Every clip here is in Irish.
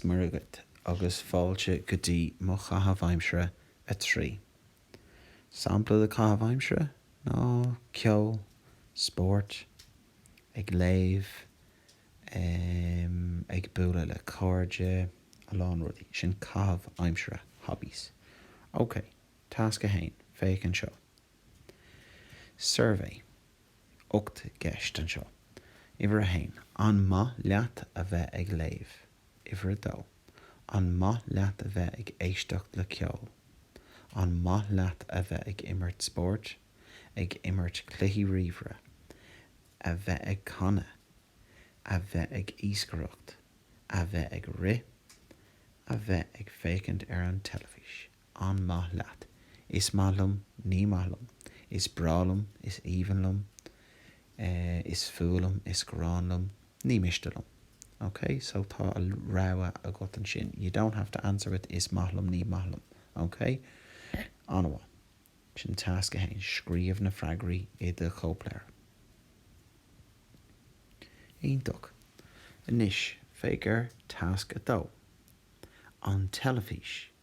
Dia dhaoibh agus fáilte go dtí mo chaitheamh aimsire 3. Sampla de chaitheamh aimsire ná ceol, spórt, ag léamh, em, ag bualadh le cairde, a lán rudaí. Sin caitheamh aimsire, hobbies. Ok, tasc 1, féach anseo. Suirbhé. Ocht gceist anseo. Uimhir a haon, An maith leat a bheith ag léamh? Uimhir a dó, An maith leat a bheith ag éisteacht le ceol? An maith leat a bheith ag imirt spóirt, ag imirt cluichí ríomhaire, a bheith ag canadh, a bheith ag iascaireacht, a bheith ag rith, a bheith ag féachaint ar an teilifís? an maith leat? is maith liom ní maith liom is breá liom is aoibhinn liom eh is fuath liom is gráin liom ní miste liom ok so tá an rogha agat ansin you don't have to answer with is maith liom ní maith liom ok ana mhaith sin tasc a haon scríobh na freagraí i do chóipleabhar iontach anois féach ar tasc a dó an teilifís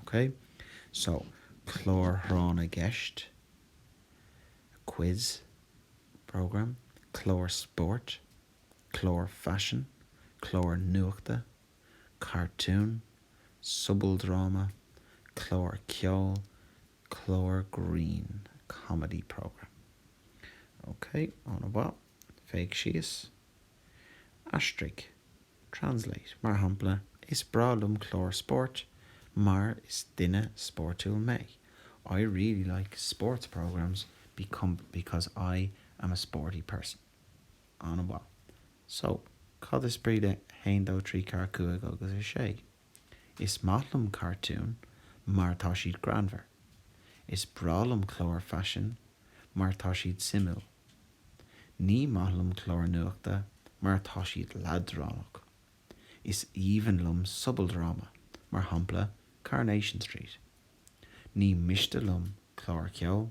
OK, so clár tráth na gceist, quiz programme, clár spóirt, clár faisin, clár nuachta, cartún, sobaldráma, clár ceoil, clár grinn, comedy programme. OK, ana mhaith. Féach síos. Aistrigh, translate, mar shampla, Is breá liom cláir spóirt mar is duine spórtúil mé. I really like sports programmes become, because I am a sporty person. Ana mhaith, so, cad is brí le haon dó trí ceathair cúig agus a sé? Is maith liom cartúin mar tá siad greannmhar. Is breá liom cláir faisin mar tá siad suimiúil. Ní maith liom cláir nuachta mar tá siad leadránach. Is aoibhinn liom sobaldráma, mar shampla Coronation Street. Ní miste liom cláir cheoil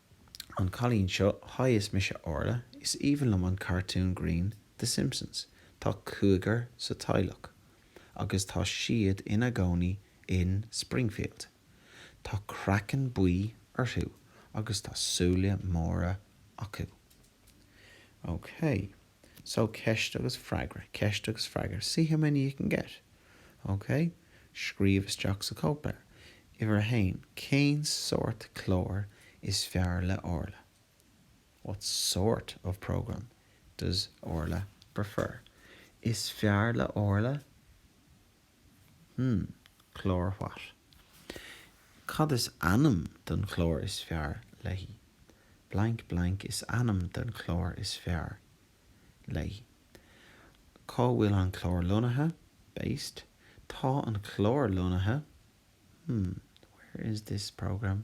An cailín seo, Hi is mise Orla, is aoibhinn liom an cartún grinn The Simpsons. Tá cúigear sa teaghlach agus tá siad ina gcónaí in Springfield. Tá craiceann buí orthu agus tá súile móra acu. OK. So, ceist agus freagra, ceist agus freagra, see how many you can get. Ok? Scríobh isteach sa chóipleabhar. Uimhir a haon, cén sórt cláir is fearr le Orla? What sort of program does Orla prefer? Is fearr le Orla. Hmm. Clár what? Cad is ainm don chlár is fearr léi? Blank blank is ainm don chlár is fearr léi. Cá bhfuil an clár lonnaithe? Based Tá an clár lonnaithe Hmm. Where is this programme?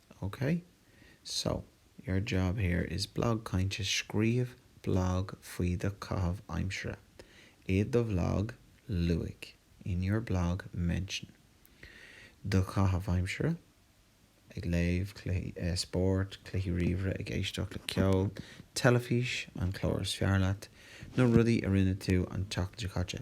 OK, so, your job here is Blag Cainte Scríobh blag faoi do chaitheamh aimsire i do bhlag Luaigh in your blog mention do chaitheamh aimsire ag léamh, spórt, cluichí ríomhaire, ag éisteacht le ceol, teilifís, an clár is fearr leat, na rudaí a rinne tú an tseachtain seo caite.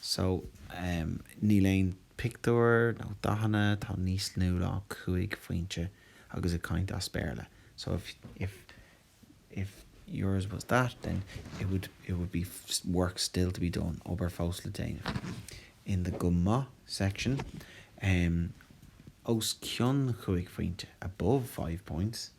So, níl aon pictiúr nó dathanna atá níos lú ná cúig phointe agus ag caint as Béarla. So, if yours was that, then it would be work still to be done, obair fós le déanamh. In the go maith section, os cionn chúig phointe, above five points,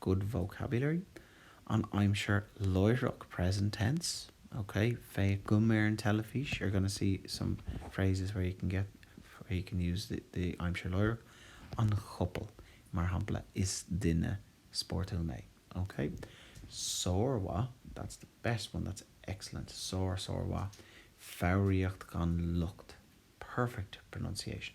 good vocabulary, an aimsir láithreach, present tense, ok, féachaim ar an teilifís, you're going to see some phrases where you can use the aimsir láithreach, an chopail, mar shampla, is duine spórtúil mé, ok, sármhaith, that's the best one, that's excellent, sár, sármhaith, foghraíocht gan locht, perfect pronunciation,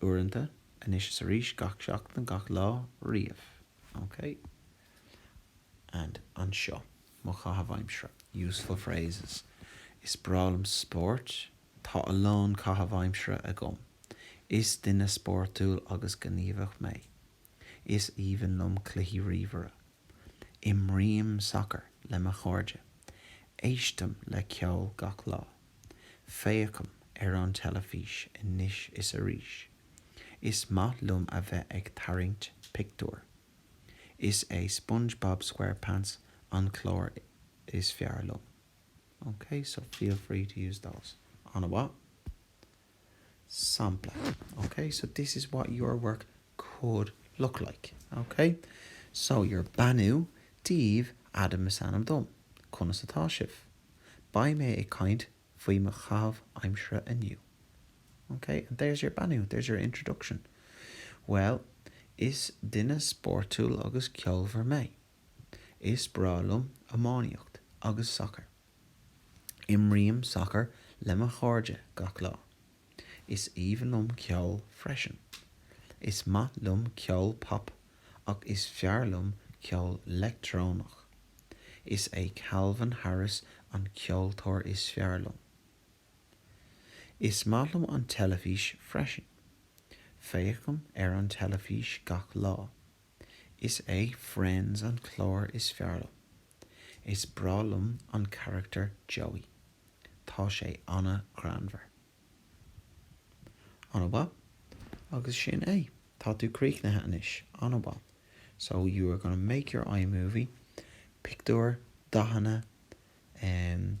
uaireanta, anois is arís, gach seachtain, gach lá, riamh, ok? And anseo, mo chaitheamh aimsire, useful phrases Is breá liom spórt, Tá a lán caitheamh aimsire agam, Is duine spórtúil agus gníomhach mé. Is aoibhinn liom cluichí ríomhaire. Imrím sacar le mo chairde. Éistim le ceol gach lá. Féachaim ar an teilifís anois is arís. Is maith liom a bheith ag tarraingt pictiúr. Is é Spongebob Squarepants an clár is fearr liom. Okay, so feel free to use those. Ana mhaith. Sampla, OK? So this is what your work could look like, OK? So your beannú daoibh, Adam is ainm dom. Conas atá sibh? Beidh mé ag caint faoi mo chaitheamh aimsire inniu. OK? And there's your beannú, there's your introduction. Bhuel, is duine spórtúil agus ceolmhar mé. Is breá liom iománaíocht agus sacar. Imrím sacar le mo chairde gach lá. Is aoibhinn liom ceol freisin. Is maith liom ceol pop ach is fearr liom ceol leictreonach. Is é Calvin Harris an ceoltóir is fearr liom. Is maith liom an teilifís freisin. Féachaim ar an teilifís gach lá. Is é Friends an clár is fearr liom. Is breá liom an carachtar Joey. Tá sé an-ghreannmhar. An-mhaith, agus sin é. Tá tú críochnaithe anois. An-mhaith, so you are gonna make your iMovie, pictiúir, dathanna, em,